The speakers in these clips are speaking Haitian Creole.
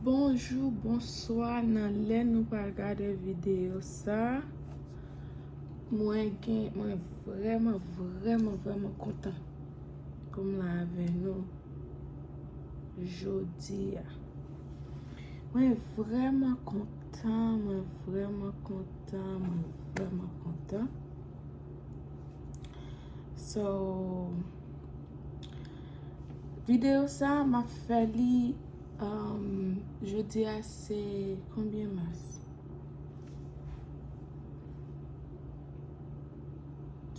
Bonjou, bonswa nan lè nou pral gade videyo sa Mwen gen, mwen vrèman, vrèman, vrèman kontan pou m la avè nou jodi a Mwen vrèman kontan, mwen vrèman kontan, mwen vrèman kontan So Video sa map fè li Jodi a se konbyen mas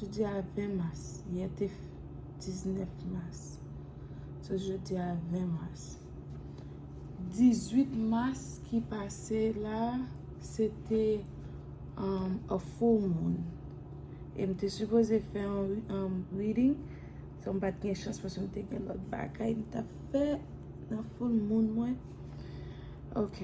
Jodi a 20 mas yè te 19 mas So jodi a 20 mas 18 mas ki pase la se te a full moon E m te sipoze fè yon reading, san m pa t gen chans paske m te gen lòt bagay m t ap fè nan foul moun mwen. Ok.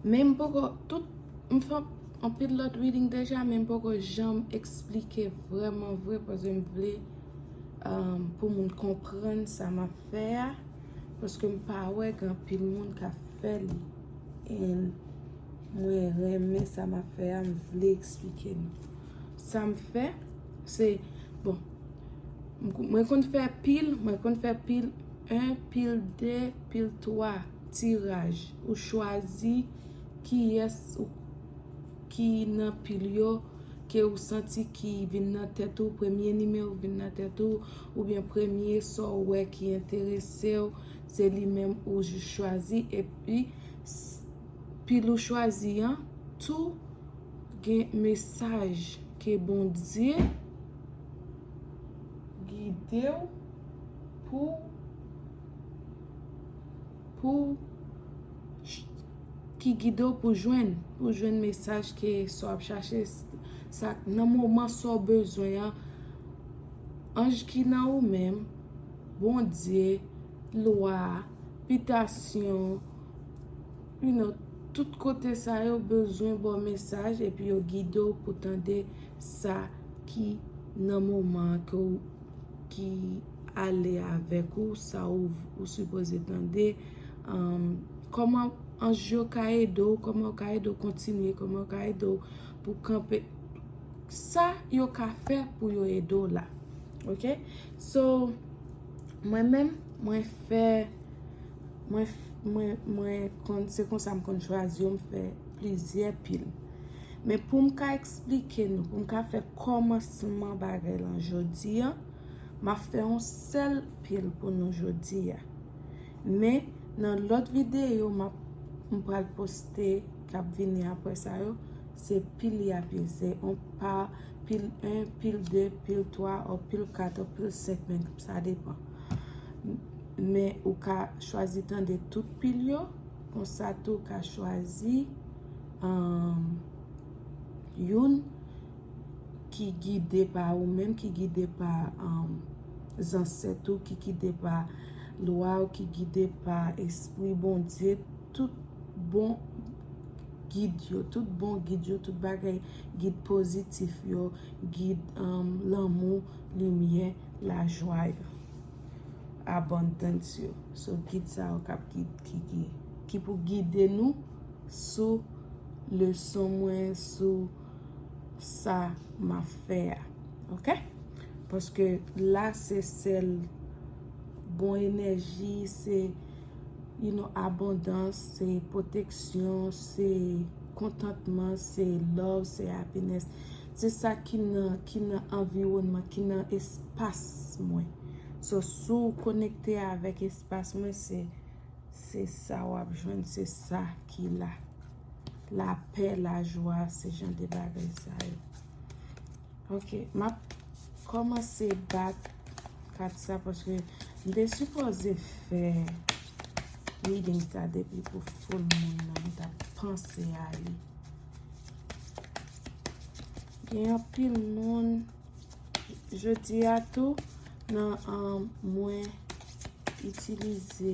Men m poko, tout, m fè anpil lòt reading deja men m poko janm eksplike vrèman vre paske m vle pou moun konprann sa m ap fè a paske m pa wè gen anpil moun k ap fè li. Mwen renmen sa map fè a, m vle eksplike nou. Sa m fè, se, bon, mwen konn fè pil, mwen konn fè pil 1, pil 2, pil 3, tiraj. Ou chwazi ki yès ou ki nan pil yo, ke ou santi ki vin nan tèt ou, premye nime ou vin nan tèt ou, ou byen premye sa ou wè ki enterese ou, se li menm ou jis chwazi, epi. Pil ou chwazi an tou gen mesaj ke Bondye gidew pou pou ki gidew pou jwenn pou jwenn mesaj ke sa wap chache sa nan moman sa w bezwen an anj ki nan ou menm Bondye lwa, bitasyon, you know, tout kote sa yo bezwen ba w mesaj epi yo gide w pou tande sa ki nan moman an ke w, ki ale avèk ou, sa w ou sipoze tande, kòman anj yo ka ede w, kòman yo ka ede w kontinye, kòman yo ka ede w pou kanpe, sa yo ka fè pou yo ede w la, ok, so. Mwen menm mwen fè mwen mwen mwen konn se konsa m konn chwazi yo m fè plizyè pil men pou m ka eksplike nou pou m ka fè kòmansman bagay lan jodi a m ap fè yon sèl pil pou nou jodi a men nan lòt videyo m ap m pral poste k ap vini aprè sa yo se pil y ap ese on pa pil 1, pil 2, pil 3, ou pil 4, ou pil 5 men, sa depan. Men ou ka chwazi tande tout pil yo, konsa tou ou ka chwazi euh, youn ki gide pa ou menm, ki gide pa euh, zansèt ou, ki gide pa lwa ou, ki gide pa espri Bondye, tout bon gid yo, tout bon gid yo, tout bagay gid pozitif yo, gid lanmou, limyè, lajwa yo. Abondance yo. So gid sa yo kap gid kiki. Ki pou gide nou sou leson mwen sou sa ma fè a. Ok? Paske la se sèl bon enèji se You know abondans se proteksyon se kontantman se love se happiness se sa ki nan ki nan anviwònman ki nan espas mwen so sou konekte avèk espas mwen se se sa wap jwenn se sa ki la lapè lajwa se jan de bagay sa yo ok map Kòmanse bat kat sa paske m te sipoze fè reading sa depi pou full moon nan m tap panse a li. Gen anpil moun jodi a tou nan mwen itilize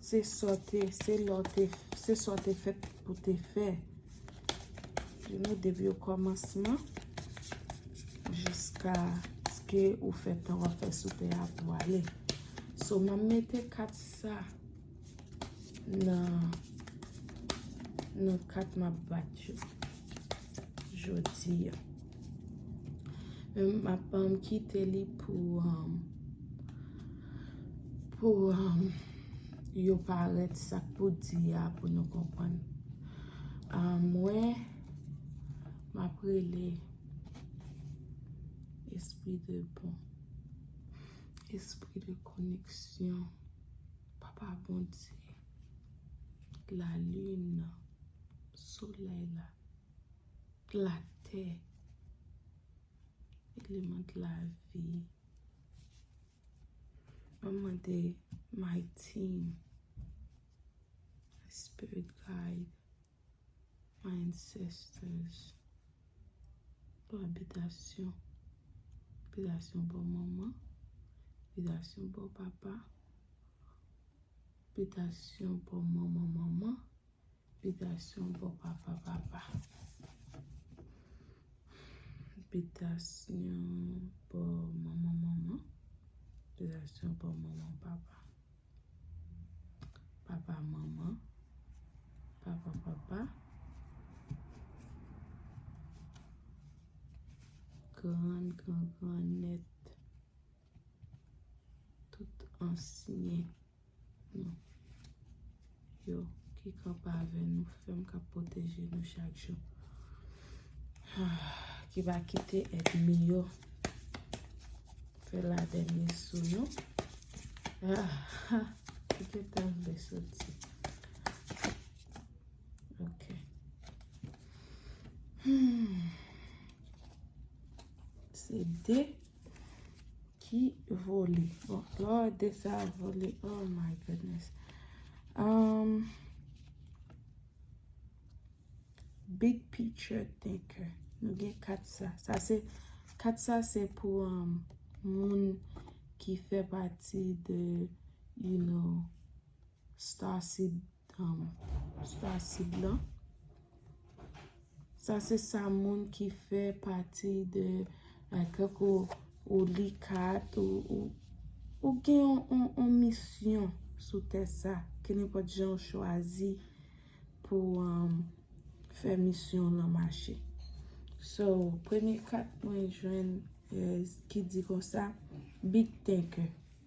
Se sa w te, se la w te, se sa w te fèt pou w te fè. Li nou depi o kòmansman jiska ske ou fè tan w ap fè sou tè a pou w ale. So m ap mete kat sa nan nan kat m ap bat yo jodi a. M ap kite li pou yo parèt sa k pou di a pou nou konprann. Mwen, m ap rele espri de bon, espri de koneksyon, papa Bondye, lalin nan, solèy la. la tè. Eleman de la vi. Mwen mande my team. My spirit guide. My ancestors. Pou abitasyon. Abitasyon pou maman. Abitasyon pou papa. Abitasyon pou maman maman. Bitasyon bon papa papa. Bitasyon bon manman manman. Bitasyon bon manman papa. Papa manman. Papa papa. Gran gran gran nèt. Tout ansyen nou yo ki kanpe avè nou fèm kap pwoteje nou chak jou. Ki pa kite èdmi yo fè la dèmi sou nou. Ki te tan vle soti. Ok. Se de. Ki vole. Bon, lò de sa vole. Oh my goodness. Um, big picture thinker. Nou gen kat sa. Sa se, kat sa se pou um, moun ki fè pati de, you know, star seed. Sa sid lan. Sa se sa moun ki fè pati de kèk ou li kat ou gen yon misyon sou tè sa. Ke ne pot jan ou chwazi pou fè misyon lan mache. So, premye kat mwen jwenn ki di konsa, big thinker.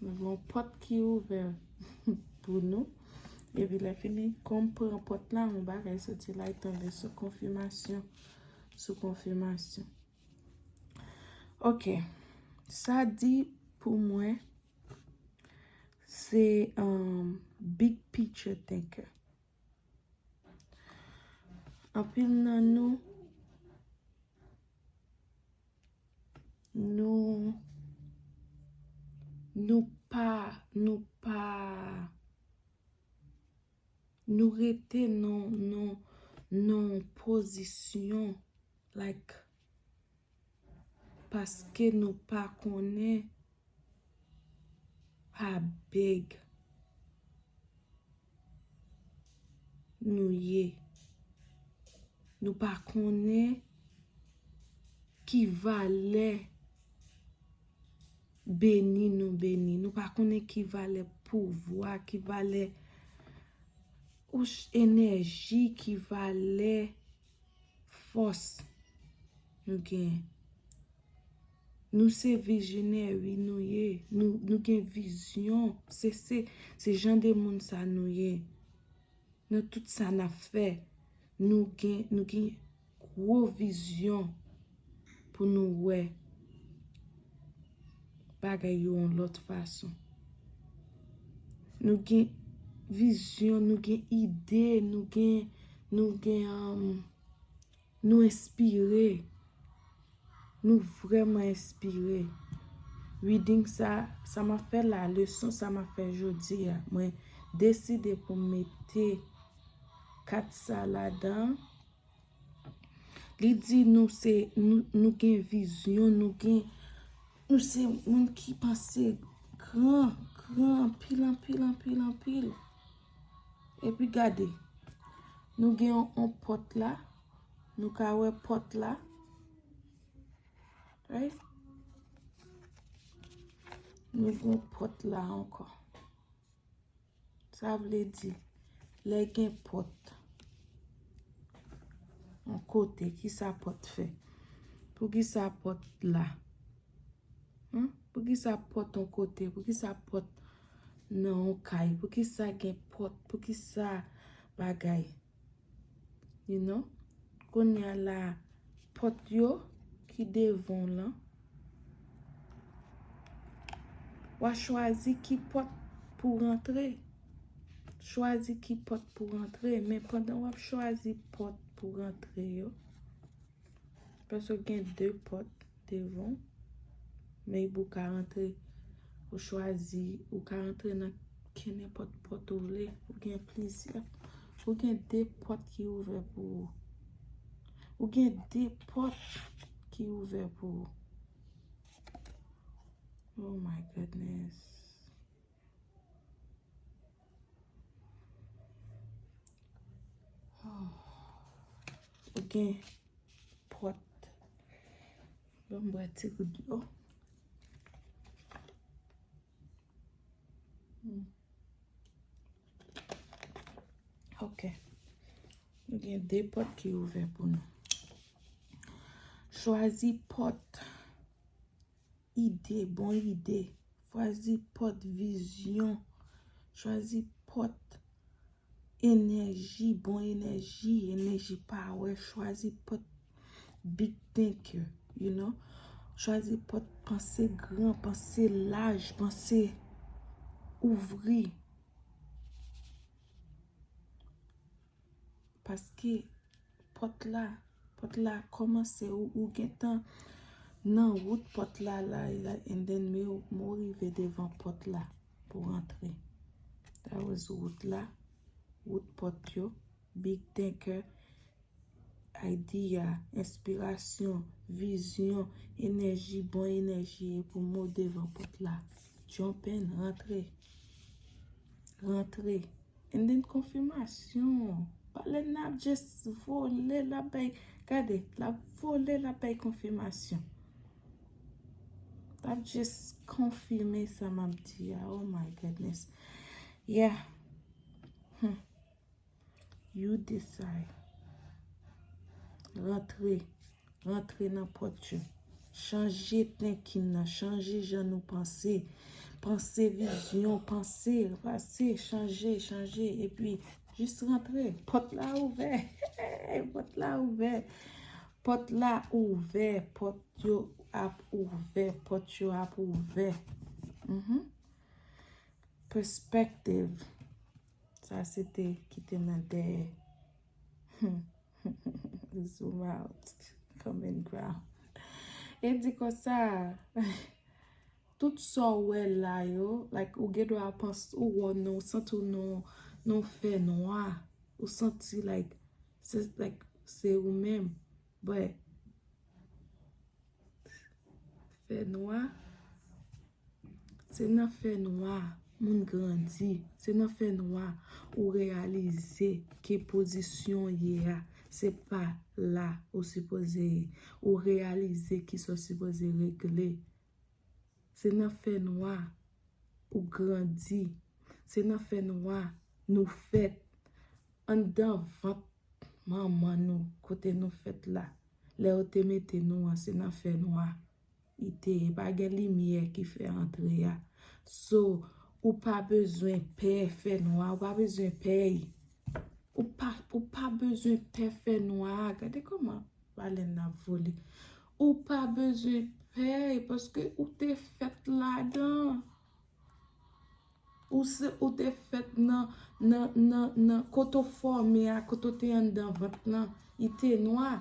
Nou gen yon pòt ki ouvè pou nou. Epi lè fini, kòm pran pòt la, yon bagay soti la, e tonbe sou konfimasyon. Sou konfimasyon. Ok. Sa di pou mwen, se um, big picture thinker. Anpil nan nou, Nou Nou pa Nou pa Nou rete nan nan nan pozisyon like paske nou pa konnen Pa beg. Nou ye. Nou pa konnen ki valè beni nou beni. Nou pa konnen ki valè pouvwa, ki valè enèji, ki valè fòs nou gen. Nou se vizionè ui nou ye nou gen vizyon se se se jan de moun sa nou ye nan tout sa na fè nou gen nou gen gwo vizyon pou nou wè bagay yo yon lòt fason nou gen vizyon nou gen ide nou gen nou gen an Nou enspire! Nou vreman enspire! Reading sa, sa m ap fè la, leson sa m ap fè jodi a, mwen deside pou m mete kat sa ladan. Li di nou se, nou gen vizyon, nou gen, nou se moun ki panse gran, gran, anpil, anpil, anpil, anpil. Epi gade, nou gen yon pòt la, nou ka wè pòt la. Right? Nou gen yon pòt la ankò. Sa vle di, lè gen pòt, yon kote, ki sa pòt fè? Pou ki sa pòt la? Humm poukisa pòt on kote poukisa pòt nan on kay poukisa gen pòt poukisa bagay you know kounye a la pòt yo ki devan w lan wa chwazi ki pòt pou w rantre chwazi ki pòt pou w rantre men pandan wap chwazi pòt pou w rantre yo Paske gen 2 pòt devan w, men epi ou ka rantre, ou chwazi, ou ka rantre nan kenenpòt pòt ou vle, ou gen plizyè, ou gen 2 pòt ki ouvè pou ou. Ou gen 2 pòt ki ouvè pou ou. Oh my goodness! Ou gen pot. Bon m bwè ti gout dlo. Ok. Ou gen de pot ki ouvè pou nou. Chwazi pot. Ide, bon ide. Fwazi pòt vizyon. Chwazi pòt enèji, bon enèji, enèji pawè. Chwazi pòt big thinker, you know. Chwazi pòt panse gran, panse laj, panse ouvri. Paske pòt la, pòt la kòmanse ou gentan nan wout pòt la la and then me ou mou rive devan pòt la pou antre. That was wout la, wout pòt yo, big thinker, idea, enspirasyon, vizyon, enèji, bon enèji e pou mou devan pòt la. Jump in, antre, antre. And then konfimasyon. Pale nap just vole lap bay. Gade lap vole lap bay konfimasyon. Lap just konfime sa map di a. Oh my goodness. Yeah. Hum. You decide. Rantre. Rantre nan pòt yo. Chanje thinking nan. Chanje jan nou panse. Panse vizyon. Panse. Panse. Chanje. Chanje. E pi. Jis rantre. Pòt la ouvè. Pòt la ouvè. Pòt la ouvè. Pòt yo ap ouvè. Pòt yo ap ouvè. Mh-mh. Perspective. Sa se te ki te nan dèyè. Zoom out. Common ground. E di konsa, tout sa w wè la yo, like ou gen dwa panse, ou wè w nan, ou santi w nan yon fènwa, ou santi like, se like, se ou menm. Bwè. Fè nwa. Se nan fè nwa moun grandi. Se nan fè nwa ou reyalize ki pozisyon ou ye a. Se pa la ou sipoze ye. Ou reyalize ki sa ou sipoze regle. Se nan fè nwa ou grandi. Se nan fè nwa nou fèt. Anndan vant manman nou kote nou fèt la. Lè yo te mete nou an se nan fè nwa. Li te ye pa gen limyè ki fè antre a. So ou pa bezwen pè fè nwa. Ou pa bezwen pèy. Ou pa bezwen pè fè nwa. Gade kòman balèn nan vole. Ou pa bezwen pè paske ou te fèt ladan. Ou se ou te fèt nan nan nan nan kote ou fòme a, kote ou te anndan vant lan, li te nwa.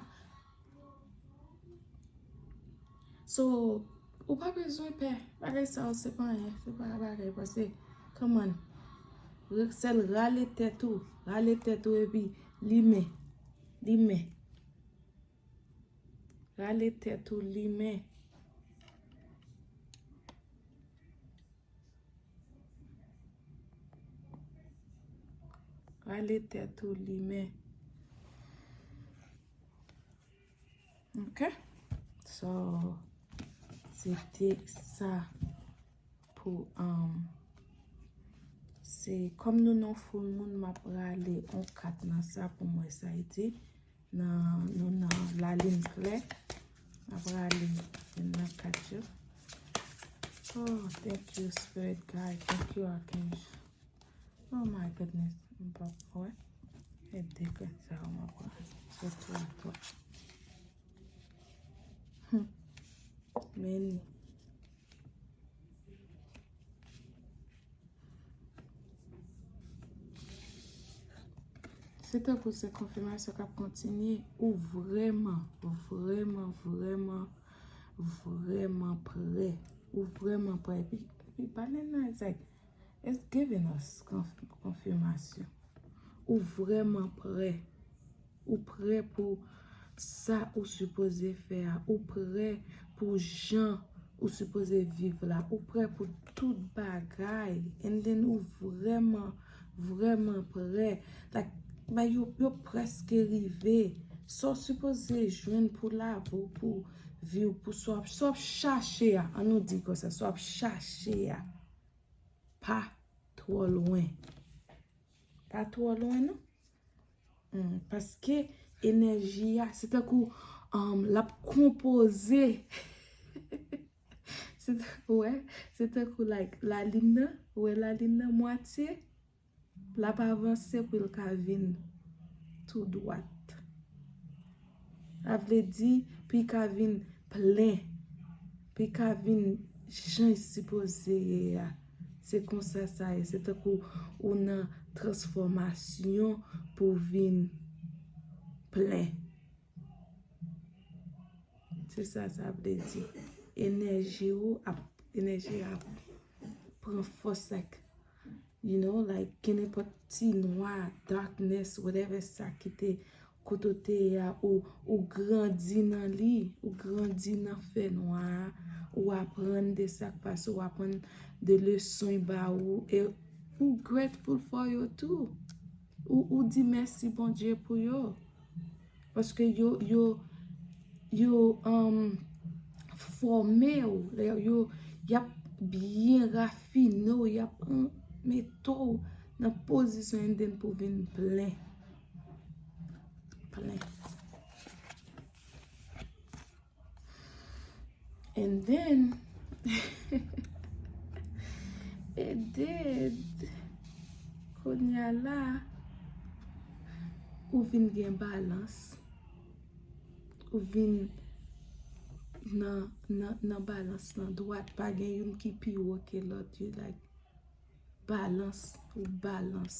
So, ou pa bezwen pè. Bagay sa yo se pa anyen, se pa bagay pase. Come on. Sèl rale tèt ou, rale tèt ou epi limen, limen. Rale tèt ou limen. Rale tèt ou limen. Ok. So, se te sa. Pou um. Se kòm nou non full moun map rale on kat nan sa pou m wè sa y di. Nan nou nan la lin klè. Map rale youn nan kat yo. Oh thank you spirit guide. Thank you archange. Oh my goodness. M pa pou wè. E de kat sa yo map rale. Se tou a tou. Hum. Many. Se tankou se konfimasyon kap kontinye ou vreman, vreman, vreman, vreman pre. Ou vreman pre. Epi, epi, banen nan it's like, it's giving us konfimasyon. Ou vreman pre. Ou prè pou sa ou sipoze fè a. Ou prè pou jan ou sipoze viv la. Ou prè pou tout bagay. And then ou vrèman, vrèman prè. Like, bay yo, yo prèske rive. Sa w sipoze jwenn pou lavi w, pou vi w, pou sa w ap chache a, an nou di konsa, sa w ap chache a, pa twò lwen. Pa twò lwen non. Paske enèji a, se tankou l ap konpoze. Ou wè? Se tankou like lalin nan, ou wè lalin nan mwatye, l ap avanse pou l ka vin tou dwat. Sa vle di, pi ka vin plen, pi ka vin jan li sipoze ye a. Se konsa sa ye, se tankou ou nan transfòmasyon pou vin plen. Se sa sa vle di. Enèji ou ap, enèji a ap pran fòs ak. You know like gen nenpòt ti nwa, darkness, whatever sa ki te kote w te ye a ou grandi nan li, ou grandi nan fè nwa a, ou aprann de sa k pase, ou aprann de leson y ba ou e ou grateful for yo tou. Ou di mèsi Bondye pou yo. Paske yo, yo, yo fòme ou, yo yap byen rafine ou, yo ap mete ou nan pozisyon an den pou vin plen. Plen. And then, and then, konya la, ou vin gen balans, ou vin nan balans nan dwat, pa gen yon ki pi wo ke lòt, you like, balans, ou balans.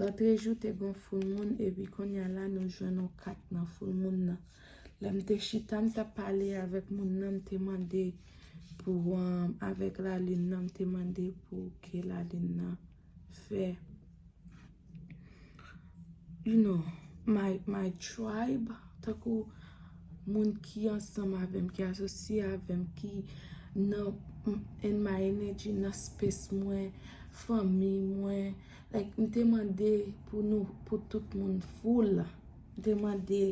Lantre jou te gon foul moun epi konnya la nou jwenn on kat nan foul moun nan. Lèm te chita m tap pale avèk moun nan m te mande pou avèk la lune nan m te mande pou ke la lune nan fè you know my tribe tankou moun ki ansanm avèm ki asosye avèm ki nan in my energy nan space mwen fanmi mwen. Like m te mande pou nou pou tout moun full m te mande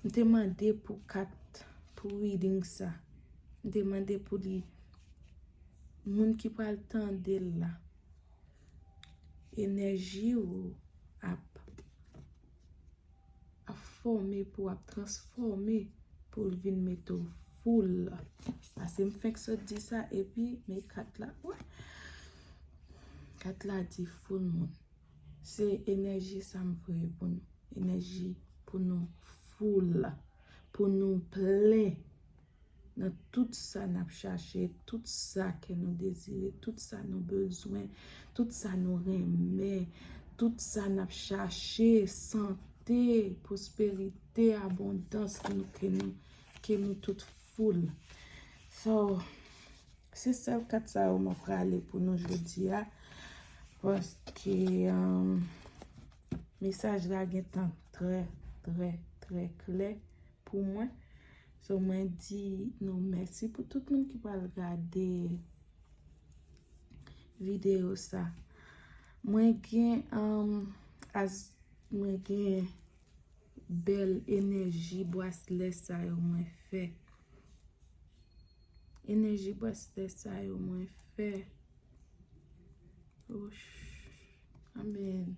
m te mande pou kat pou reading sa m te mande pou li moun ki pral tande l la enèji ou ap ap fòme pou ap transfòme pou l vin mete w foul la. Pase m fenk sot di sa epi me kat la. Kat la di foul moun. Se enèji sa m voye pou nou. Enèji pou nou foul la. Pou nou plen. nan tout sa n ap chache, tout sa kè nou dezire, tout sa nou bezwen, tout sa nou renmen, tout sa n ap chache, sante, pwosperite, abondans, ke nou tout foul. So, se sèl kat sa yo mwen prale pou nou jodi a, paske euh, mesaj la gen tan trè, trè, trè klè pou mwen. So mwen di nou mèsi pou tout moun ki pral gade video sa. Mwen gen as mwen gen bèl enèji bwaslè sa yo mwen fè. Enèji bwaslè sa yo mwen fè. Wouch. Amen.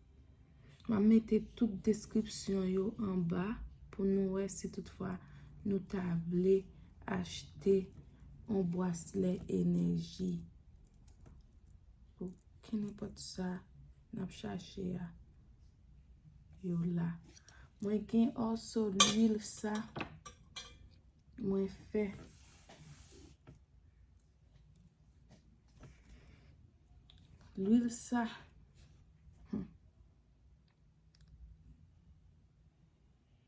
Map mete tout deskripsyon yo anba pou nou wè si tout fwa nou ta vle achte yon bwaslè enèji. Pou kenenpòt sa nap chache a yo la. Mwen gen òso lwil sa mwen fè. Lwil sa.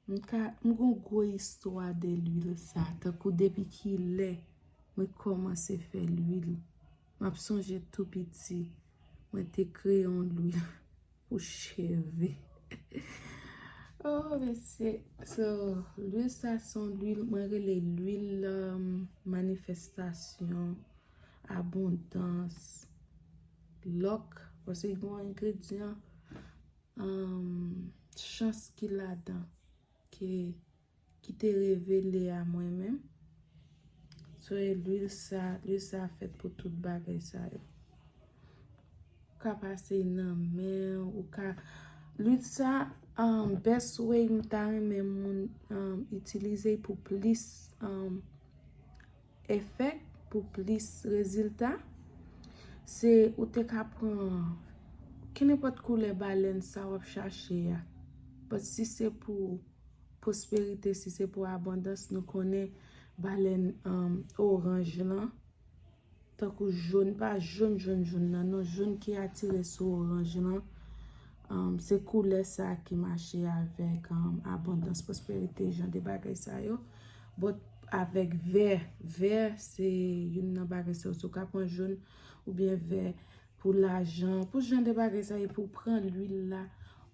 M ka, m gon gwo istwa de lwil sa. Tankou depi ki lè mwen kòmanse fè lwil. M ap sonje tou piti. Mwen te kreye yon lwil. Pou cheve. Oh mesye. So, lwil sa son lwil, mwen rele lwil um, manifestasyon, abondans, lòk, pase gen yon engredyan, um, chans ki ladan, ke. Ki te revele a mwen menm. So e lwil sa, lwil sa fèt pou tout bagay sa yo. Ou ka pase nan men, ou ka, lwil sa, best way m ta renmen moun itilize pou plis. Efèk pou plis rezilta, se ou te ka pran kenenpòt koulè balèn sa w ap chache a. Bòt si se pou pwosperite, si se pou abondans, nou konnen balèn oranj lan, tankou joun, pa joun joun joun nan non, joun ki atire sou oranj lan, se koulè sa ki mache avèk abondans, pwosperite, jan de bagay sa yo. Bòt avèk vè, vè se youn nan bagay sa yo, si w ka pran jòn oubyen vè pou lajan, pou jan de bagay sa yo, pou pran lwil la,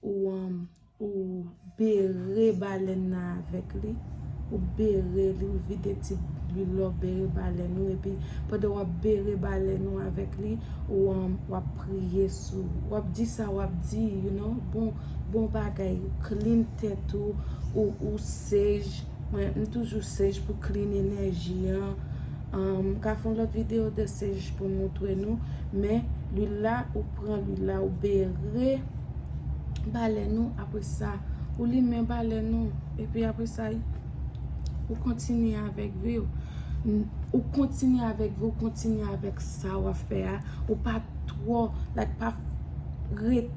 ou bere balèn nan avèk li, ou bere li, ou vide ti lwil la, ou bere balèn ou, epi pandan w ap bere balèn ou avèk li, ou ap priye sou, w ap di sa w ap di, you know, bon bagay, klin tèt ou, ou sej. Mwen m toujou sej pou klin enèji an. M ka fon lòt videyo de sej pou moutre nou. Men, lwil la, ou pran lwil la, ou bere balè nou. Apre sa, ou limen balè nou. E pi apre sa, ou kontinye avèk vi ou. Ou kontinye avèk vi ou, kontinye avèk sa ou a fè a. Ou pa twò, like pa rete.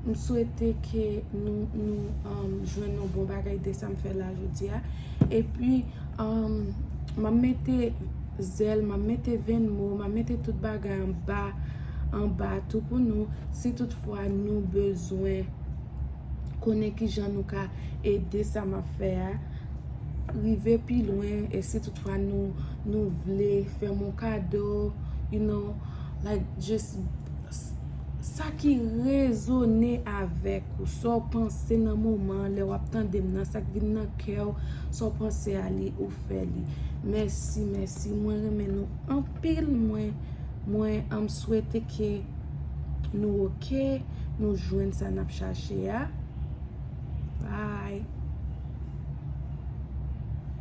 M swete ke nou jwenn yon bon bagay de sa m fè la jodi a. E pi, m ap mete zèl, m ap mete venn mo, m ap mete tout bagay anba, anba tou pou nou. Si tout fwa nou bezwen konnen ki jan nou ka ede sa m ap fè a, rive pi lwen. E si tout fwa nou vle fè m yon kado, you know, like just. Sa ki rezone avèk ou, sa w panse nan moman an lè w ap tande m nan, sa k vin nan kè w, sa w panse a li, ou fè li. Mèsi, mèsi, mwen renmen nou anpil, mwen, mwen anm swete ke nou ok, nou jwenn sa n ap chache a. Bye!